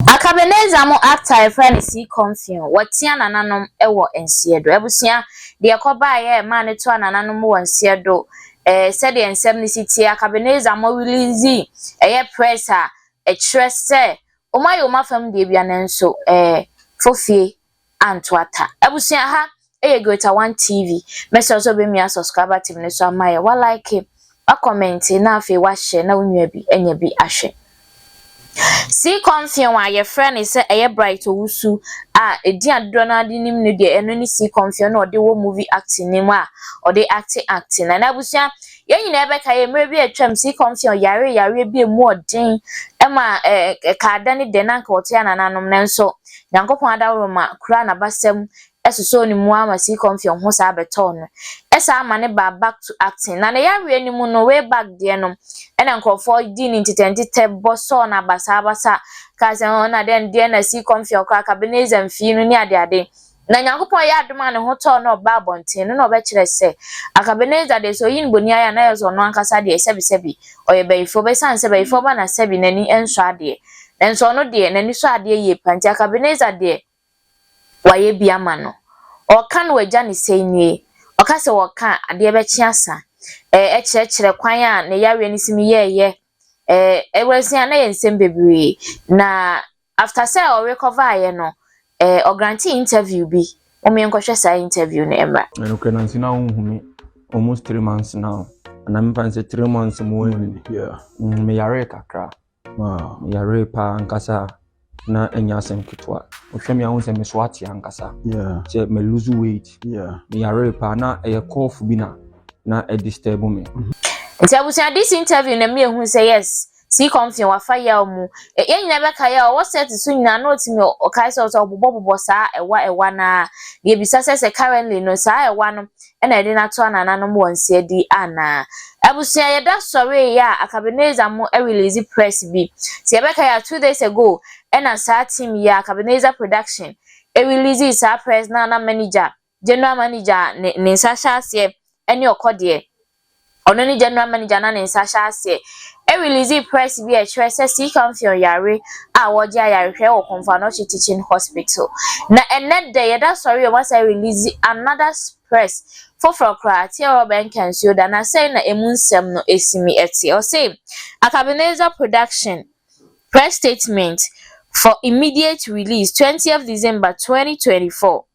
Akabeneza mo actor yɛfrɛ no see confio wɔtea nananom wɔ nseɛ do abusua deɛ kɔbaa yɛ maa no toa nananom wɔ nseɛ do eh sɛdeɛ nsɛm no si teɛ akabeneza mo release ɛyɛ press a ɛkyerɛ sɛ wɔn ayɛ wɔn afam deɛ bia nanso eh fofie anto ata. Abusua ha ɛyɛ Greater One TV. Mɛsrɛ wo sɛ wobɛmia subscriber team no so ama yɛ. Wa like, wa comment na afei wa share na wo nua bi anya bi ahwɛ. Sea Comfeon a yɛfrɛ no sɛ ɛyɛ Bright Owusu a ɛdin a dodoɔ no ara de nim no deɛ ɛno ne Sea Comfeon na ɔde wɔ movie acting no mu a ɔde acte acting na n'abusua yɛn nyinaa bɛka yɛ mmerɛ bi atwam Sea Comfeon yare yareɛ bi a ɛmu ɔden ɛma ɛɛ kaada ne dɛ na anka ɔte anananom nanso Nyankopɔn adaworoma kuraa n'abasam sosɔɔ ne mu ara ma sii kɔm fii ɔho saa bɛtɔɔ no. Ɛsaa ma ne baa back to acting. Na ne yareɛ no mu no, way back deɛ no, ɛna nkorɔfoɔ dii ne ntetɛntetɛ bɔ sɔɔ no abasaabasa kaa sɛ, Hon, na dɛn, deɛ na sii kɔm fii wo koraa, Cabernet Zam fii no ne adeade. Na Nyankopɔn yɛɛ adom a ne ho tɔɔ no na ɔbaa abɔnten no na ɔbɛkyerɛɛ sɛ, anka Ebenezer deɛ sɛ ɔyi no boni ayɛ a na ayɛ sɛ ɔno ankasa deɛ sɛbisɛbi ɔyɛ bayifoɔ bɛsiane sɛ bayifoɔ ba na sɛbi n'ani nsɔ adeɛ nanso ɔno deɛ n'ani sɔ adeɛ yie pa nti anka Ebenezer deɛ wayɛ bi ama no. Ɔɔka no w'agya ne sɛi nie, ɔka sɛ wɔɔka a adeɛ bɛkye asa ɛɛ ɛkyerɛkyerɛ kwan a ne yareɛ no si me yɛɛyɛ ɛɛ ɛwurasia na yɛ nsɛm bebree na After sɛ ɔrekɔvaeɛ no eh ɔgrante interview bi momma yɛnkɔhwɛ saa interview no mmra. Ɛyɛ nokorɛ nanso na wonhu me almost three months now anaa memfa no sɛ three months mu ɔn mm, meyaree kakra meyaree paa ankasa a na ɛnyɛ asɛm ketewa wohwɛ me a wohu sɛ meso ate ankasa sɛ me lose weight meyaree paa na ɛyɛ cough bi na na ɛdisturb me nti abusua this interview na mmienu sɛ yes Sii kɔm fee wafa yaw mu. Yɛn nyinaa bɛkae a ɔwɔ sɛɛte so nyinaa na otumi ɔkae sɛ ɔsɛ ɔbobɔbobɔ saa ɛwa ɛwa no ara. Yebisa sɛ sɛ currently no saa ɛwa no na yɛde no ato anananom wɔ nseadi anaa. Abusua yɛda sɔree yɛ a Akabenezer mo release press bi. Sɛ yɛbɛkae a two days ago ɛna saa team yi a Akabenezer production release saa press no a na manager General manager a ne ne nsa hyɛ aseɛ ne ɔkɔ deɛ, ɔno ne general manager na ne nsa hyɛ aseɛ release press bi a ɛkyerɛ sɛ Sii Kamfeon yare a wɔregye ayarehwɛ wɔ Komfo Anokye Teaching Hospital. Na ɛnnɛ dɛ yɛda sɔre yi wɔasan release another press foforɔ koraa Ateɛ Robert Nkansuo da na sɛn na ɛmu nsɛm no si mi ɛteɛ. Ɔse Akabenezer Production press statement for immediate release twentieth December twenty twenty four.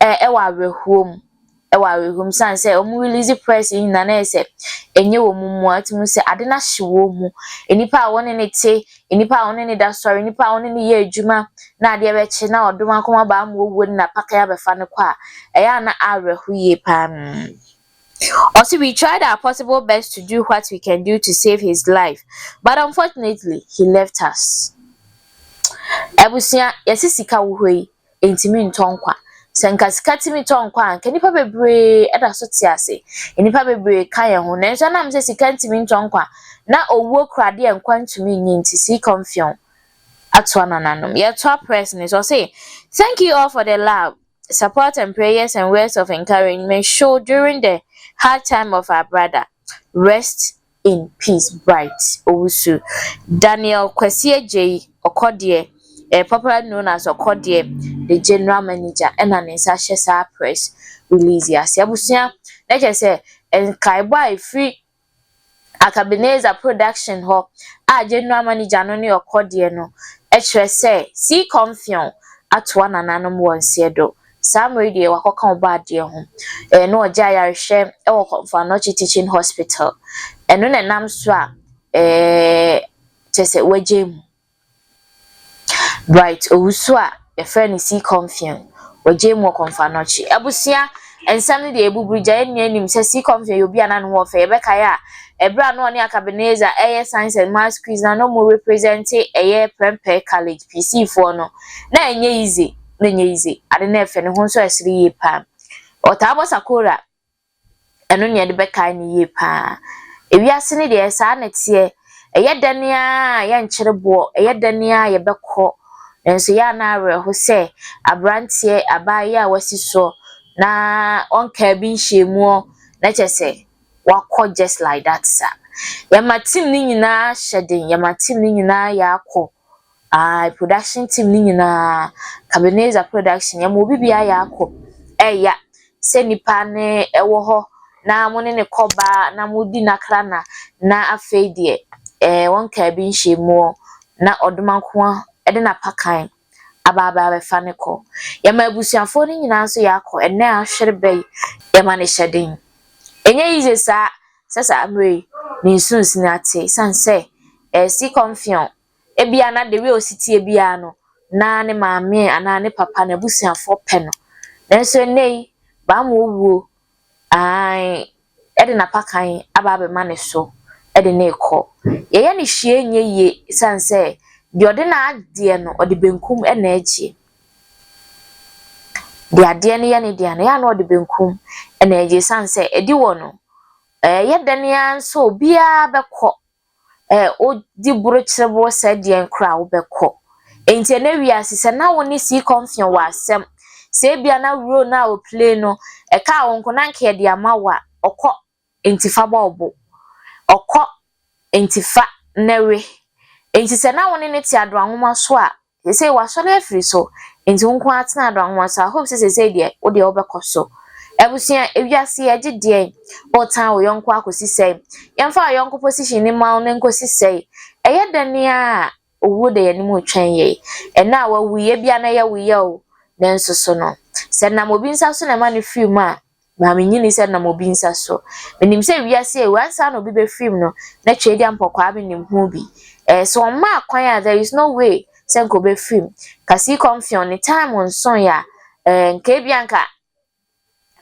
Ɛ ɛwɔ awerɛhoɔ mu ɛwɔ awerɛhoɔ mu sane sɛ wɔn release press yi nyinaa na yɛ sɛ ɛnyɛ wɔn mua ɔte mu sɛ ade no ahye wɔn mu nnipa a wɔn ne ne te nnipa a wɔn ne ne da sɔre nnipa a wɔn ne ne yɛ adwuma na adeɛ bɛkye na ɔdom akɔm aba ama owuo no na pakan abɛfa no kɔ a ɛyɛ a na awerɛho yie paa mm. Ɔse we tried our possible best to do what we can do to save his life but unfortunately he left us. Abusua yɛse sika wɔ hɔ yi ɛntumi ntɔ nkwa. Sɛ anka sika tumi tɔ nkwa a, anka nnipa bebree da so te ase. Nnipa bebree ka yɛn ho. Nanso ɛnam sɛ sika ntumi ntɔ nkwa, na owuo kura adeɛ a nkwa ntumi nni nti, Sii Kɔmfeɔn atoa nananom. Yɛtoa press no so. Ɔse, Thank you all for the love, support and prayers and words of encouragement show during the hard time of our brother. Rest in peace Bright Owusu, Daniel Kwasi Agyei, Ɔkɔdeɛ, eh, popularly known as Ɔkɔdeɛ, the General Manager ɛna ne nsa hyɛ saa press release yi ase. Abusua, na kyerɛ sɛ nkaebɔ a ɛfiri Akabeneza Production hɔ a General Manager no ne Ɔkɔdeɛ no kyerɛ sɛ Seacom Film atoa nananom wɔn seɛ do Saa mber yi deɛ ɔakɔka ɔba adeɛ ho. Ɛyɛ na ɔgye ayarhwɛ wɔ Kɔmfo Anɔkye Teaching Hospital. Ɛno na nam so a kyerɛ sɛ ɔagyae mu. Bright Owusu a wɔfrɛ no C Comfeon, ɔgyae mu wɔ Kɔmfo Anɔkye. Abusua, nsɛm no deɛ ebubur gya, yɛn nyina nyim sɛ C Comfeon yɛ obi a na no ho ɔfɛ. Yɛbɛkae a, ber a na ɔne aka Ebenezer reyɛ Science and Maths quiz no a na wɔrepresente ɛyɛ Prempeh College, PC foɔ no, na nnyɛ yie dze. na ɛnyɛ yize, ade na ɛfɛ, ne ho nso ɛsere yie paa. Ɔtaa bɔ sakora, ɛno na yɛde bɛkae no yie paa. Ewiase no deɛ saa na ɛteɛ, ɛyɛ dɛn ara yɛnkyere boɔ, ɛyɛ dɛn ara yɛbɛkɔ, nanso yɛ ana awerɛho sɛ aberanteɛ abaayewa a wasi so na ɔnkaa bi nhyiamuɔ na kyɛ sɛ wakɔ just like that saa. Yɛma team no nyinaa hyɛ den, yɛma team no nyinaa yɛ akɔ. Ae production team no nyinaa, Cabenezer production, yɛma obi biara yɛ akɔ ɛya sɛ nipa no ɛwɔ hɔ na mo ne no kɔ ba na mo di nakra na na afei deɛ ɛɛ wɔn kaa bi nhyɛ mu ɔ na ɔdoma nkoa ɛde na pa kan aba aba abɛfa no kɔ. Yɛma abusuafoɔ no nyinaa nso yɛ akɔ ɛnɛ ahwere bɛ yi yɛma no hyɛ den. Ɛnyɛ easy saa Sɛ saa mmerɛ yi ne nsu nsene ate esiane sɛ ɛresi kɔmfeɔn. Ebia na dewi a ɔsi teɛ biara no, na ne maame anaa ne papa, n'abusuafoɔ pɛ no. Nanso ɛnnɛ yi, bammɔ wuo, aane, ɛde n'apakan aba abɛma ne so de no rekɔ. Yɛyɛ no hwee nyɛ yie esiane sɛ deɛ ɔde n'adeɛ no, ɔde benkum na ɛgyeɛ. de adeɛ no yɛ ne dea no, ɛyɛ a na ɔde benkum na ɛgye ɛsiane sɛ adi wɔ no. Ɛyɛ dɛn ara nso a, obiara bɛkɔ. Ɛɛ wodi burokyerɛ bo sɛ deɛn koraa wobɛkɔ. Enti ɛnɛ wiase sɛ na wo ne sii kɔmfeɔ wɔ asɛm, sɛ ebia na role no a ɔplay no, ɛkaa wo nko na anka yɛde ama wo a, ɔkɔ. enti fa bɔ wo bo. Ɔkɔ, enti fa na we. Enti sɛ na wo ne no te Adwoa nwoma so a, seesei wasɔre afiri so, enti wo nko ara tena Adwoa nwoma so. I hope sɛ seesei deɛ, wo deɛ wobɛkɔ so. Abusua, ewiase yi agye deɛn? Woretan wo yɔnko akɔsi sɛn? Yɛmfa wo yɔnko position no mma wo na ɛnkɔsi sɛn? Ɛyɛ dɛn ara a, owuo da yɛn anim retwɛn yɛn. Ɛnnɛ a wawu yi, ebia na ɛyɛ wo ya o, nanso so no, sɛ ɛnam obi nsa so na ɛma no firi mu a, Na mennyinii sɛ nam obi nsa so. Menim sɛ wiase awu, ansa na obi bɛfirim no, na Tweadia mpɔkwaa menim ho bi. Ɛɛ, so wɔmmaa kwan a there is no way sɛ nka ɔbɛfirim? Nka sii kɔm feɔn ne time nsoeɛ a, ɛɛ, nka ebia nka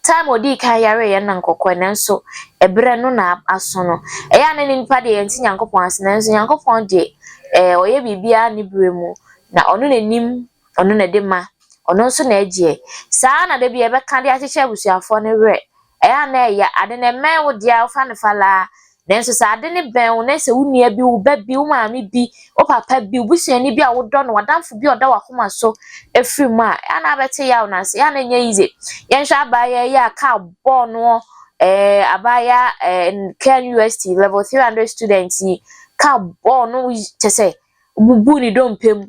time a ɔdii kan yareeɛ no na nka ɔkɔeɛ, nanso ɛberɛ no na aso no. Ɛyɛ a na ne nnipa deɛ yɛnte Nyankopɔn ase, nanso Nyankopɔn deɛ, ɛɛ, ɔyɛ biribiara ne berɛ mu, na ɔno na nim. Ɔno na ɛde ma, Ɔno nso na ɛgyeɛ. Saa ara na da biara yɛbɛka de akyekyɛ abusuafoɔ no werɛ. Ɛyɛ a na ɛya, ade no ɛmmɛn wo deɛ a, wofa no fa laa. Nanso sɛ ade no bɛn wo, na sɛ wo nua bi, wo ba bi, wo maame bi, wo papa bi, wo busuani bi a wodɔ no, w'adamfo bi a ɔda w'akoma so firi mu a, ɛyɛ a na abɛte yaw no ase. Ɛyɛ a na ɛnyɛ easy. Yɛnhwɛ abaayewa yi a kaa bɔɔ noɔ, ɛɛ abaayewa ɛɛ Ken UST level 300 student yi, kaa bɔɔ no kyɛ sɛ, ɔbubuu ne dompe mu.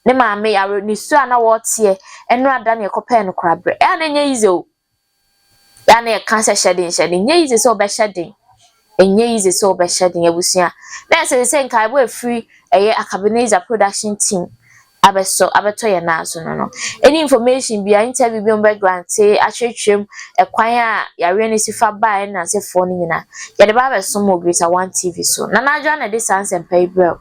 ne maame yare, ne su a na wɔreteɛ, ɛno ada ne ɛkɔpɛɛ no korabrɛ. Ɛyɛ a na ɛnyɛ yize o. Ɛyɛ a na yɛka sɛ hyɛ den hyɛ den. Ɛnyɛ yize sɛ ɔbɛhyɛ den. Ɛnyɛ yize sɛ ɔbɛhyɛ den abusua. Na ɛsɛ sɛ nkaebɔ a ɛfiri ɛyɛ Akabenezer production team abɛsɔ abɛtɔ yɛn nan so no no. Any information bia, interview bi a wɔbɛgrante, akyerɛkyerɛ mu, ɛkwan a yareɛ no si fa baa yɛn nansefoɔ no nyinaa, yɛde ba abɛso mo Greater One TV so. Nana Adwoa na ɛde saa nsɛmpa yi brɛ wo.